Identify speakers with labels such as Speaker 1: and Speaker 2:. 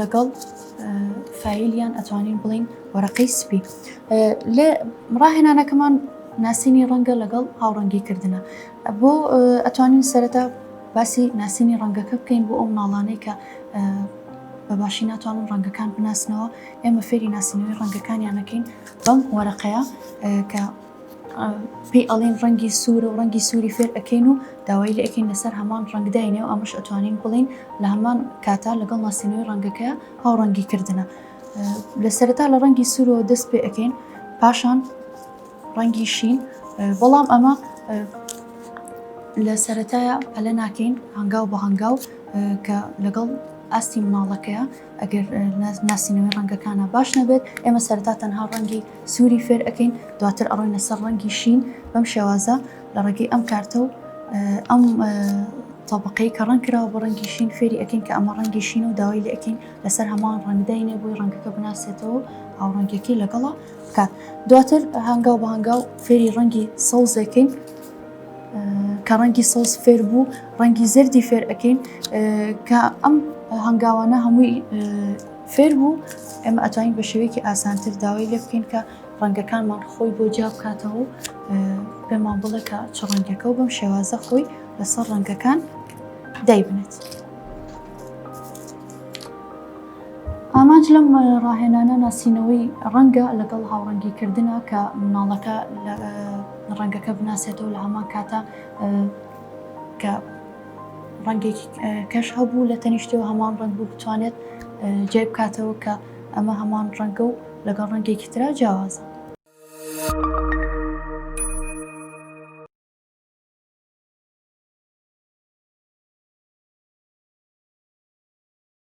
Speaker 1: لەگەڵ فایلیان ئەتوانین بڵین وەرەقەی سپی لە ڕاهێنانەکەمان ناسینی ڕەنگە لەگەڵ هاوڕەنگی کردنە بۆ ئەتوانین سەرەتا باسی ناسینی ڕەنگەکە بکەین بۆ ئەو مناڵانەی کە بە باشی ناتوانن ڕەنگەکان بناسنەوە ئێمە فێری ناسینەوەی ڕەنگەکانیانەکەین بەم وەرەقەیە کە پێی ئەڵین ڕەنگی سوورە و ڕەنگی سووری فێر ئەەکەین و داوای لە ئەکەین لەسەر هەمان ڕنگداینێ و ئەمەش ئەتوانین بڵین لە هەمان کاتا لەگەڵ ناسینەوەی ڕەنگەکە هاو ڕەنگی کردنە لە سەرتا لە ڕەنگی سوورەوە دەست پێ ئەەکەین پاشان ڕەنگی شین بەڵام ئەمە لە سەتایە ئەلە ناکەین هەنگاو بە هەنگاو کە لەگەڵ ئاستی مناڵەکەیە ئەگەر ناسینەوەی ڕەنگەکانا باش نەبێت ئێمە سەرتا تەنها ڕەنگی سووری فێر ئەەکەین دواتر ئەڕۆینە سەر ڕەنگی شین بەم شێوازە لە ڕێگەی ئەم کارتە و ئەم تەبقەی کە ڕەنگ کراوە بە ڕەنگی شین فێری ئەەکەین کە ئەمە ڕەنگی شین و داوای لە ئەەکەین لەسەر هەمان ڕەنگداینێ بووی ڕەنگەکە بناسێتەوە هاوڕەنگەکەی لەگەڵا بکات دواتر هەنگاو بە هەنگاو فێری ڕەنگی سەوزەکەین کە ڕەنگی سەوز فێر بوو ڕەنگی زەردی فێر ئەەکەین کە ئەم هەنگاوانە هەمووی فێر بوو ئێمە ئەتوانین بە شێوەیەکی ئاسانتر داوای لێ بکەین کە ڕەنگەکانمان خۆی بۆ جیا بکاتەوە و پێمان بڵێ کە چ ڕەنگەکە و بەم شێوازە خۆی لەسەر ڕەنگەکان دایبنێت. ئامانج لەم ڕاهێنانە ناسینەوەی ڕەنگە لەگەڵ هاوڕەنگی کردنە کە مناڵەکە ڕەنگەکە بناسێتەوە لە هەمان کاتە کە ڕەنگێکی کەش هەبوو لە تەنیشتەوە هەمان ڕنگ بوو بتوانێت جێ بکاتەوە کە ئەمە هەمان ڕەنگە و لەگەڵ ڕەنگێکی تررا جیاوازە.